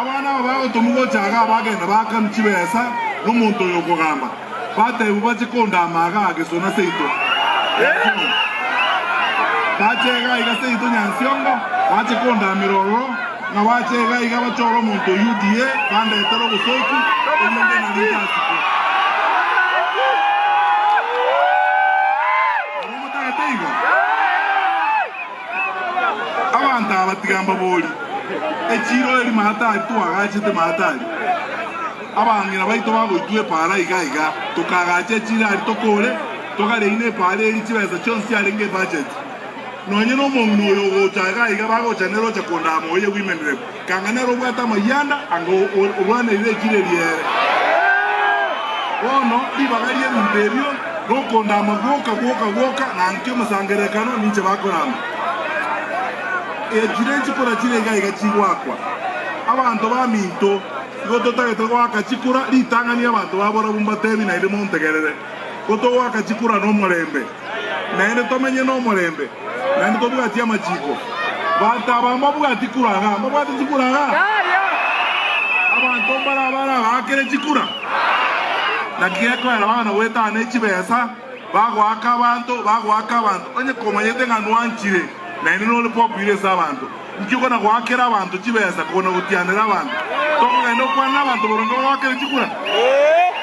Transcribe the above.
Abana aba bagotomwa gocha iga bagenda baakanu chibesa nomonto oyo okogamba, bateebwa bache kondaama iga gesona seito Nyansiongo. Bacha iga iga seito Nyansiongo bache kondaamera ororo, ng'a bacha iga iga bachore omonto oyio odie bandetere obosooku, erinde nari ntasikwe. Naro motagete igo? Abanto aba tiga mbabori, Echiiro eri Mahatari twagachete Mahatari, abang'ina baito bagoitwa epaara iga iga, tokagacha echiiro aria tokore, togareina epaara eri chibesa chionsi chiarenge ebacheti. Nonye nomong'ina oyo ogocha iga iga bagocha nere oche kondaa moyo bw'imendereko. Kang'ainera obwate amayanda anga orwaneire echireria ere. Bono ribaga ri'ebinto erio nokondama gwoka gwoka gwoka na nki omosangererekano ninche bakorama. Echire chikura chire iga iga chigoakwa. Abanto baminto igo totagete goaka chikura ritang'ani abanto baborabu mbatebi naende montegerere, ko togoaka chikura nomorembe. naende tomenye nomorembe, naende tobwatie amachiko. Bato aba mbabwati kura gha? Mbabwati chikura gha? Abanto mbare aba nabagakere chikura? Naki gekoera abana goetana ne chibesa, bagoaka abanto, bagoaka abanto, onye komanyete ng'a nwanchire, naende nore popular ase abanto. Inki okona goakera abanto chibesa kogona gotianera abanto? Tokogenda gokwana nabanto boronge bagoakere chikura?